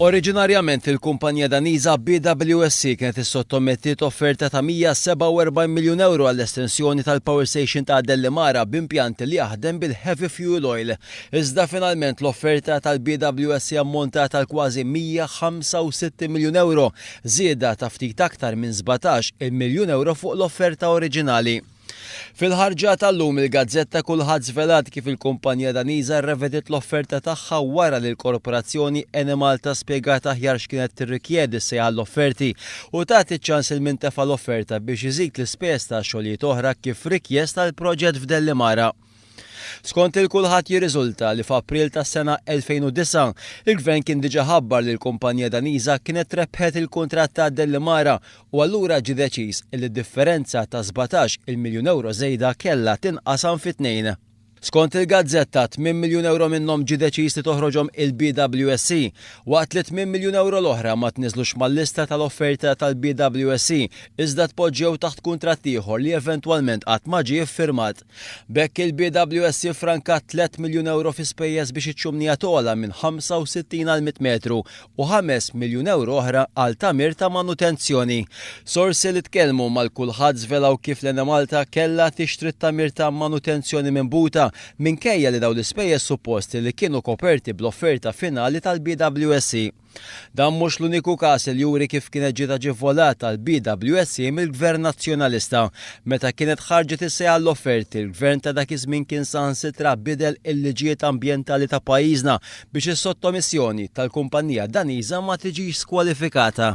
Oriġinarjament il-kumpanija Daniża BWSC kienet issottomettiet offerta ta' 147 miljun ewro għall-estensjoni tal-power station ta' Dellimara b'impjant li jaħdem bil-heavy fuel oil, iżda finalment l-offerta tal-BWSC ammontat għal kważi 165 miljun ewro, żieda ta' ftit aktar minn sbatax il-miljun ewro fuq l-offerta oriġinali. Fil-ħarġa ta' llum il-gazzetta kulħadd żvelat kif il-kumpanija Daniża rrevediet l-offerta tagħha wara li l-korporazzjoni Enemalta spjegat aħjar x'kienet tirrikjedi se għall-offerti u tat iċ-ċans lil min tefa' l-offerta biex iżid l-ispejjeż ta' xogħlijiet oħra kif rikjest għall-proġett f'Dellimara. Skont lil kulħadd jirriżulta li f'April tas-sena 2009, il-Gvern kien diġà ħabbar li l-kumpanija Daniża kienet rebħet il-kuntratt ta' Delimara u allura ġie deċiż li d-differenza ta' sbatax il miljun ewro żejda kellha tinqasam fi tnejn. Skont il-gazzetta, tmien miljun ewro minnhom ġie deċiż li toħroġhom il-BWSC, waqt li tmien miljun ewro l-oħra ma tniżlux mal-lista tal-offerta tal-BWSC iżda tpoġġew taħt kuntratt ieħor li eventwalment qatt ma ġie ffirmat. B'hekk il-BWS iffrankat tliet miljun ewro fi spejjeż biex iċ-ċumnija togħla minn 65 għal 100 metru u ħames miljun ewro oħra għal tagħmir ta' manutenzjoni. Sorsi li tkellmu mal kulħadd żvelaw kif l-Enemalta kellha tixtri t-tagħmir ta' manutenzjoni minn Buta minkejja li dawn l-ispejjeż supposti li kienu koperti bl-offerta finali tal-BWS. Dan mhux l-uniku każ li juri kif kienet ġiet aġevolat għall-BWSC mill-Gvern Nazzjonalista. Meta kienet ħarġet is-sejħa għall-offerti, l-Gvern ta' dak iż-żmien kien saħansitra bidel il-liġijiet ambjentali ta' pajjiżna biex is-sottomissjoni tal-kumpannija Daniża ma tiġix skwalifikata.